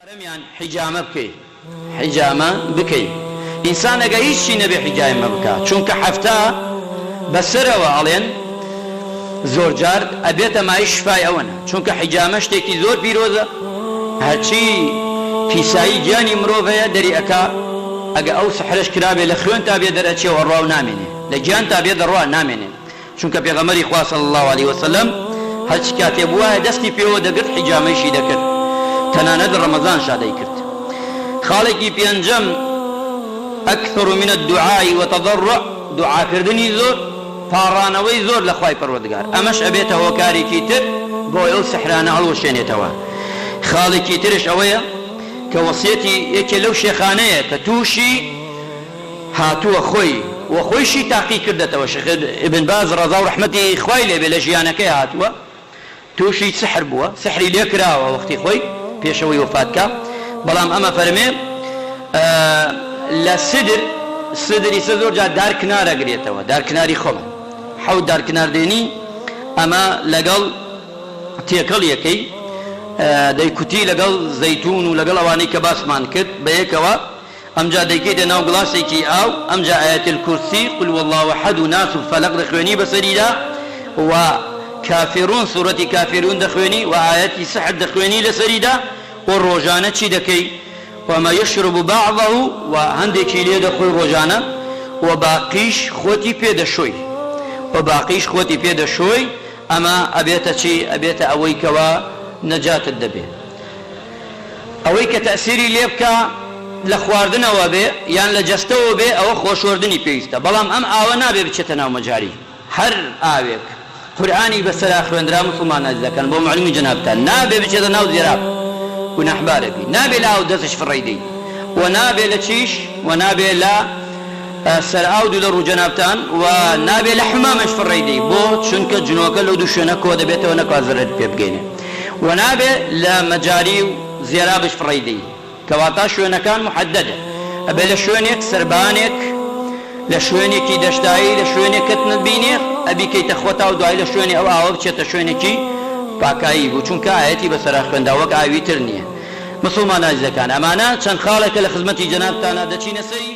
چوارەمیان حیجامە بکەی حیجامە بکەی ئینسان ئەگە هیچ چی نەبێ حیجایمە بکا چونکە حەفتا بەسەرەوە ئەڵێن زۆرجار ئەبێتە مایش شفای ئەوەنە چونکە حیجامە شتێکی زۆر پیرۆزە هەرچی پیسایی گیانی مرۆڤ هەیە دەری ئەکا ئەگە ئەو سحرەش کرابێ لە خوێنتا بێ دەرئەچێ و ئەڕوا و نامێنێ لە گیانتا بێ دەڕوا نامێنێ چونکە پێغەمبەری خوا صلی اللە علیە وسلم هەرچی کاتێ بوایە دەستی پێوە دەگرت حیجامەیشی دەکرد تەنانەت لە ڕەمەزانشا دەیکرد خاڵێکی پێنجەم اکثر من الدعاء وتضرع دوعاکردنی زۆر پاڕانەوەی زۆر لە خوای پەروەردگار ئەمەش ئەبێتە هۆکارێکی تر بۆ ئەو سحرانە هەڵوەشێنێتەوە خاڵێکی ترش ئەوەیە کە وەسیەتی یەکێ لەو شێخانەیە کە تووشی هاتووە خۆی و خۆیشی تاقی کردەتەوە شێخ ابن باز ڕەزا و ڕەحمەتی خوای لێ بێ لە ژیانەکەی هاتووە تووشی سحر بووە سحری لێ کراوە وەختی خۆی پێش ئەوەی وەفات کا بەڵام ئەمە فەرمێ لە سدر سدری سە زۆر جار دار کنار ئەگرێتەوە دار کناری خۆمان حەوت دار کنار دێنی ئەمە لەگەڵ تێکەڵ یەکەی دەیکوتی لەگەڵ زەیتون و لەگەڵ ئەوانەی کە باسمان کرد بە یەکەوە ئەمجا دەیکەیتە ناو گڵاسێکی ئاو، ئەمجا ئایەت الکرسی، قل هو اللە احد، و ناس و فەلەق دەخوێنی بەسەریدا، و کافرون، سورەتی کافرون، دەخوێنی، و ئایەتی سحر دەخوێنی لەسەریدا، و ڕۆژانە چی دەکەی؟ وما یشرب بعضه، و هەندێکی لێ دەخۆی ڕۆژانە، و باقیش خۆتی پێ دەشۆی، و باقیش خۆتی پێ دەشۆی، ئەمە ئەبێتە چی؟ ئەبێتە ئەوەی کەوا نەجاتت دەبێ. ئەوەی کە تەئسیری لێ بکا لە خواردنەوە بێ یان لە جەستەوە بێ ئەوە خۆشۆردنی پێویستە بەڵام ئەم ئاوە نابێ بچێتە ناو مەجاری هەر ئاوێک قورئانی بەسەرا خوێندرا موسڵمان ئەزیزەکان بۆ معلومی جەنابتان نابێ بچێتە ناو زێراب گوناحبارە بی نابێ لە ئاو دەسش فڕێی دەی و نابێ لە چیش و نابێ لە سەر ئاو دوو لە ڕوو جەنابتان و نابێ لە حمامێش فڕێی دەی بۆ چونکە جنۆکە لەو دوو شوێنە کۆ دەبێتەوە نەکوا زەرەرت پێ بگەینێ و نابێ لە مەجاری و زێرابش فڕێی دەی کەواتا شوێنەکان محددە ئەبێ لە شوێنێک سەربانێک لە شوێنێکی دەشتایی لە شوێنێک کەت نەبینێ ئەبی کەیتە خۆتا و دوای لە شوێنێ ئەو ئاوە بچێتە شوێنێکی پاکایی بوو چونکە ئایەتی بەسەرا خوێندا وەک ئاوی تر نیە مسوڵمانە ئازیزەکان ئەمانە چەند خاڵێکە لە خزمەتی جەنابتانا دەچینە سەری.